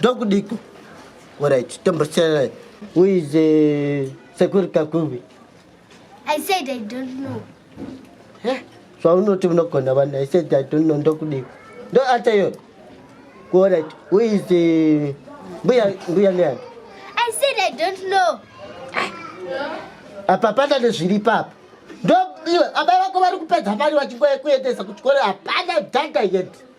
ndokudiko orit tombosiyana uize eh, sekuri kakuvi i said i don't know eh, zvaunoti unogona vanhu i said i don't know ndokudiko ndo ata iyoyo orit uize eh, mbuya mbuya neani i said i don't know apa pana nezviri papa ndo iwe abai vako vari kupedza mari vachingoekuendesa kuchikoro hapana dhanda yet